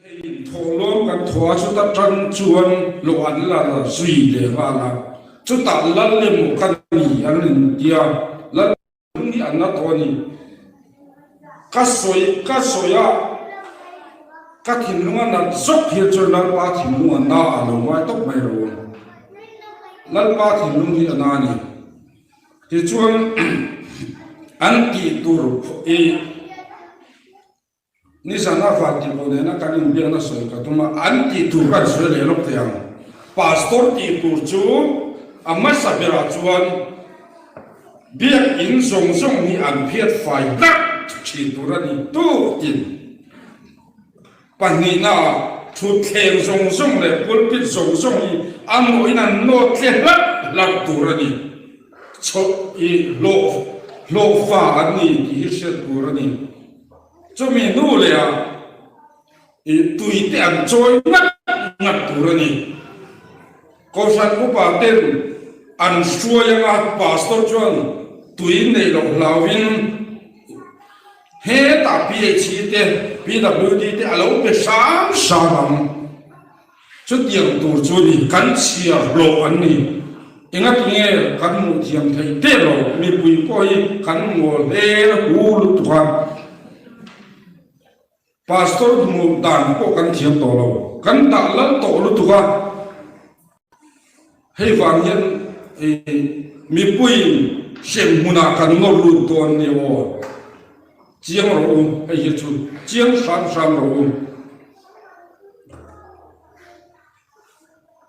Thawhlawm kan thua chu ta tan chuan lawh an la rat zui leh nghal a, chutah Lal emaw ka ni an intia. Kan nih an la tawn i ka sawi, ka sawi a, ka thinlung a nalh zawk hil chuan Lalpa thinlung a na a lo ngai tawp mai lo ang. Lalpa thinlung hi a na ni. Tichuan an tih tur i Nizana van tihpawh nena kan inbiakna sawi ka tum a, an tih tur kan sawi leh lawk thei ang. Pastor tih tur chu a hmasa berah chuan biakinn zawng zawng hi an phiat fai tlat thin tur a ni tuk tin, pahnihna ah thutthleng zawng zawng leh pulpit zawng zawng hi a mawhin an nawt hle hlat hlat tur a ni. Chawlh i hlawh hlawh fa an ni tih hi hriat tur a ni. Chumi nu leh a tui te an chawi ngat ngat tur a ni. Kohhran upa ten an hruai ang a, Pastor chuan tui neih loh hlau in hetah PHC te, PWD te a lo pe hram hram ang. Chutiang tur chu ni, kan chhia hlawh an ni. Enga tunge kan hmuh thiam thei teh lo, mipui pawh hi kan ngawl hel hu lutuk a, Pastor hmuh dan pawh kan thiam tawh lo, kan dah lal tawh lutuk a. Hei vang hian ii, Mipuiin hrem hmunah kan nawr lut dawn ni aw, chiang rawh u, hei hi chu chiang hram hram rawh u.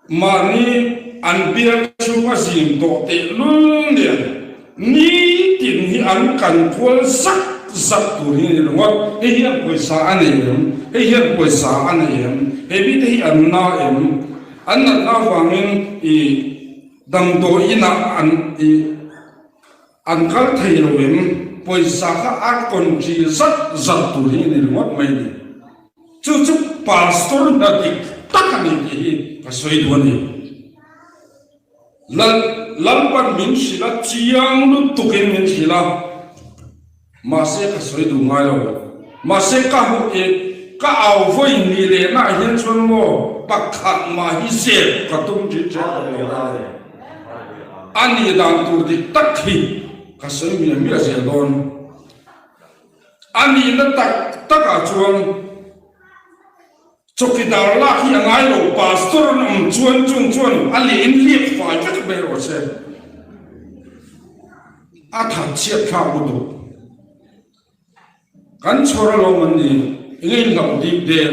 Mahni an biak chhung a zing tawh tehlul nen Ni tin hi an kan kual zak zak tur hi a ni lo a, hei hian pawisa a nei em? Hei hian pawisa a nei em? He mite hi an na em? An natna avangin i damdawi inah an i an kal thei lo em? Pawisa kha a tonṭi zak zak tur hi a ni ringawt mai ni. Chu chu pastor hna dik tak a ni tih hi ka sawi duh a ni. Lalpan min hrilh a, chiang lutukin min hrilh a, mahse ka sawi duh ngai lo. Mahse ka hmu i ka au vawi ni lehna ah hian chuan maw pakhat mah hi zep ka tum ṭin ṭial tak lo a ni. A nih dan tur dik tak hi ka sawi miah miah zel dawn. A nihna tak tak ah chuan. Chawkidar lak hi a ngai lo, Pastor an awm chuan chung chuan a leh in liak fai vek mai rawh se, a thatchhiat thlak u duh. Kan chhawr alawm an ni, i ngei hlauh bik dek.